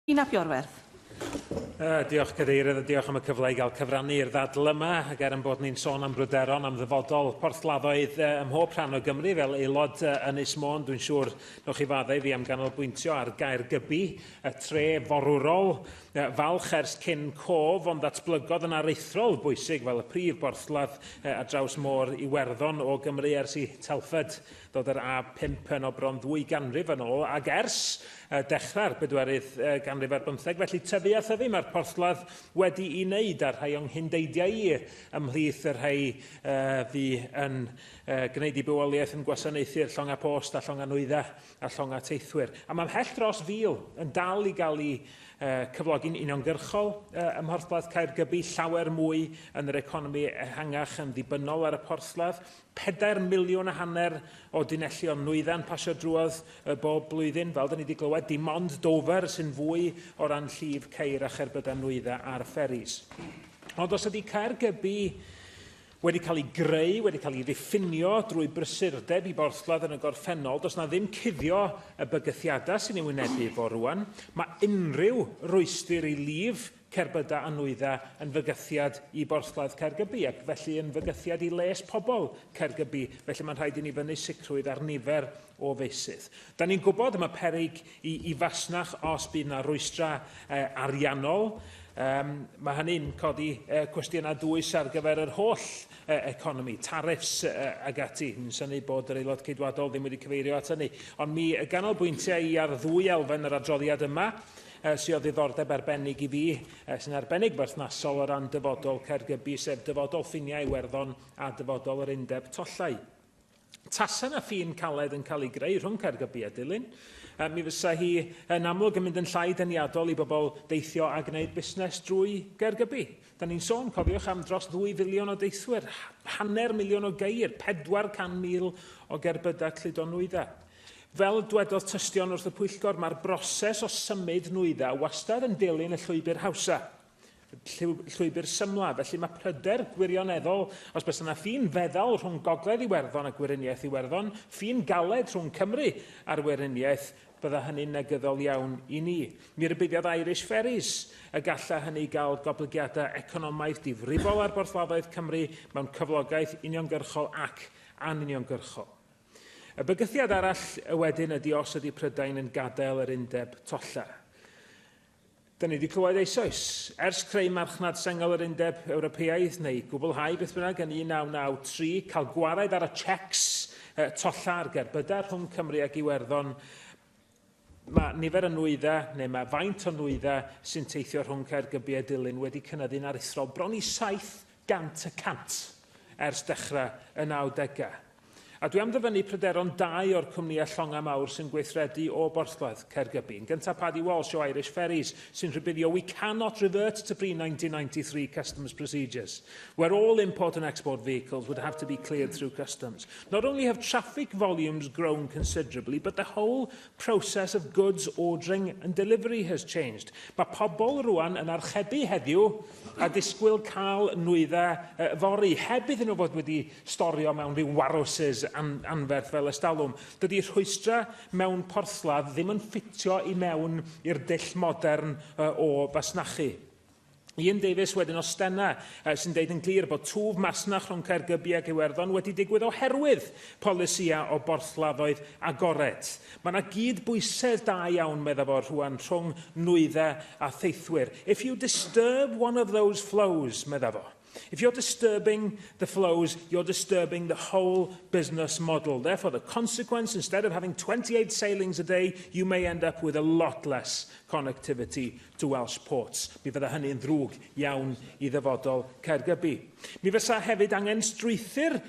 Yn Aberwerth. Diolch, Cadeirydd, a diolch am y cyfle i gael cyfrannu i'r ddadl yma, ac er yn bod ni'n sôn am bryderon am ddyfodol porthladdoedd ym mhob rhan o Gymru fel aelod Ynys Môn, dwi'n siŵr newch chi fadda i fi am ganolbwyntio ar Gaergybi, y tre forwrol, falch ers cyn cof, ond ddatblygodd yn aruthrol bwysig fel y prif borthladd ar draws Môr Iwerddon o Gymru ers i Telford Dod yr A pump yno bron ddwy ganrif yn ôl, ac ers dechrau'r bedwerydd ganrif ar bymtheg, felly tyfu a thyfu mae'r porthladd wedi'i wneud, a'r rhai o'n nghyn-deidiau i ymhlith y rhai fu yn gwneud i bywoliaeth yn gwasanaethu'r llongau post a llongau nwyddau a llongau teithwyr. A mae mhell dros fil yn dal i gael eu cyflogi'n uniongyrchol ym Mhorthladd Caergybi, llawer mwy yn yr economi ehangach yn ddibynnol ar y porthladd, pedair miliwn a hanner o dunellion nwyddan pasio drwodd y bob blwyddyn, fel da ni wedi glywed, dim ond Dover sy'n fwy o ran llif ceir a cherbydau nwydda ar fferis. Ond os ydy Caergybi wedi cael ei greu, wedi cael ei ddiffinio drwy brysurdeb i borthladd yn y gorffennol, does na ddim cuddio y bygythiadau sy'n ei wynebu fo rwan. Mae unrhyw rwystyr i lif Cerbydau a nwyddau yn fygythiad i borthladd Caergybi ac felly yn fygythiad i les pobl Caergybi, felly mae'n rhaid i ni fynnu sicrwydd ar nifer o feysydd. Da ni'n gwybod y mae peryg i, i fasnach os bydd yna rwystrau eh, ariannol. Um, mae hynny'n codi eh, cwestiynau dwys ar gyfer yr holl eh, economi, tariffs eh, ag ati. Mi'n syni bod yr aelod ceidwadol ddim wedi cyfeirio at hynny. Ond mi ganolbwyntiau i ar ddwy elfen yr adroddiad yma. e, sy o ddiddordeb arbennig i fi, e, sy'n arbennig berthnasol o ran dyfodol Caergybi, sef dyfodol ffiniau Iwerddon a dyfodol yr undeb tollau. Tasa na ffin caled yn cael ei greu rhwng Caergybi a Dulyn, e, mi fysa hi yn amlwg yn mynd yn llai deniadol i bobl deithio a gwneud busnes drwy Gaergybi. Dan ni'n sôn, cofiwch, am dros ddwy filiwn o deithwyr, hanner miliwn o geir, 400,000 o gerbydau cludo nwyddau. Fel dwedodd tystion wrth y pwyllgor, mae'r broses o symud nwyddau wastad yn dilyn y llwybr hawsa, llwybr symla, felly mae pryder gwirioneddol os bys yna ffin feddal rhwng Gogledd Iwerddon a Gweriniaeth Iwerddon, ffin galed rhwng Cymru a'r Weriniaeth, Bydda hynny'n negyddol iawn i ni. Mi rybuddiad Irish Ferries y galla hynny gael goblygiadau economaidd difrifol ar borthladdoedd Cymru mewn cyflogaeth uniongyrchol ac anuniongyrchol. Y bygythiad arall wedyn ydy os ydy Prydain yn gadael yr undeb tolla. Da ni wedi clywed eisoes, ers creu marchnad sengl yr Undeb Ewropeaidd, neu gwblhau beth bynnag yn 1993, cael gwared ar y cheques uh, tolla ar gerbydau rhwng Cymru ac Iwerddon, mae nifer y nwyddau, neu mae faint o nwyddau sy'n teithio rhwng Caergybi a Dulyn wedi cynyddu'n aruthrol bron i 700 y cant ers dechrau y 90au. A dwi am ddyfynnu pryderon dau o'r cwmnïau llongau mawr sy'n gweithredu o Borthladd, Caergybi. Yn gyntaf Paddy Walsh o Irish Ferries sy'n rhybuddio we cannot revert to pre-1993 customs procedures, where all import and export vehicles would have to be cleared through customs. Not only have traffic volumes grown considerably, but the whole process of goods ordering and delivery has changed. Mae pobl rwan yn archebu heddiw a disgwyl cael nwyddau uh, fori, heb iddyn nhw fod wedi storio mewn rhyw warhouses an anferth fel ystalwm. Dydy rhwystrau mewn porthladd ddim yn ffitio i mewn i'r dull modern uh, o fasnachu. Ian Davies wedyn o Stena uh, sy'n deud yn glir bod twf masnach rhwng Caergybi ac Iwerddon wedi digwydd oherwydd polisia o borthladdoedd agored. Mae yna gyd-bwysedd da iawn, meddaf o rhwan, rhwng nwyddau a theithwyr. If you disturb one of those flows, meddaf o. If you're disturbing the flows, you're disturbing the whole business model. Therefore, the consequence, instead of having 28 sailings a day, you may end up with a lot less connectivity to Welsh ports. Mi fydda hynny yn ddrwg iawn i ddyfodol Caergybi. Mi fysa hefyd angen strwythyr,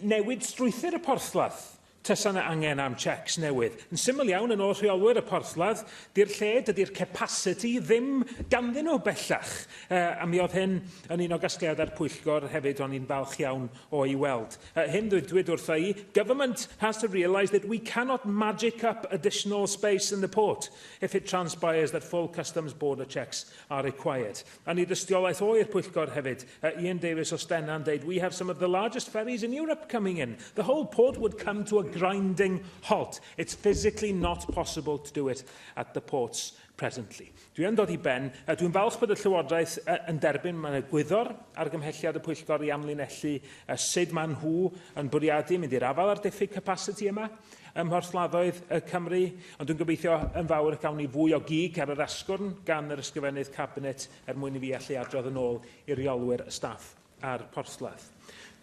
newid strwythyr y porthladd Tasa 'na angen am cheques newydd. Yn syml iawn, yn ôl rheolwyr y porthladd, di'r lle, dydi'r capasiti ddim ganddyn nhw bellach. Uh, a mi oedd hyn yn un o gasgliadau'r pwyllgor hefyd o'n i'n falch iawn o'i weld. Uh, hyn ddwydwyd wrtha i, government has to realise that we cannot magic up additional space in the port if it transpires that full customs border checks are required. Yn ei dystiolaeth o i'r pwyllgor hefyd, yy Ian Davies o Stena yn deud We have some of the largest ferries in Europe coming in. The whole port would come to a grinding halt. It's physically not possible to do it at the ports presently. Dwi yn dod i ben. Yy dwi'n falch bod y Llywodraeth yy yn derbyn mae'n egwyddor argymhelliad y pwyllgor i amlinellu yy sud maen nhw yn bwriadu mynd i'r afael â'r diffyg capasiti yma ym mhorthladdoedd yy Cymru. Ond dwi'n gobeithio yn fawr y cawn ni fwy o gig ar yr asgwrn gan yr Ysgrifennydd Cabinet er mwyn i fi allu adrodd yn ôl i reolwyr y staff a'r porthladd.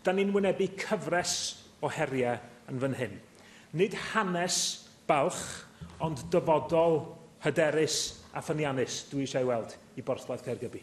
Da ni'n wynebu cyfres o heriau yn fan hyn. Nid hanes balch, ond dyfodol hyderus a ffyniannus dwi eisiau ei weld i borthladd Caergybi.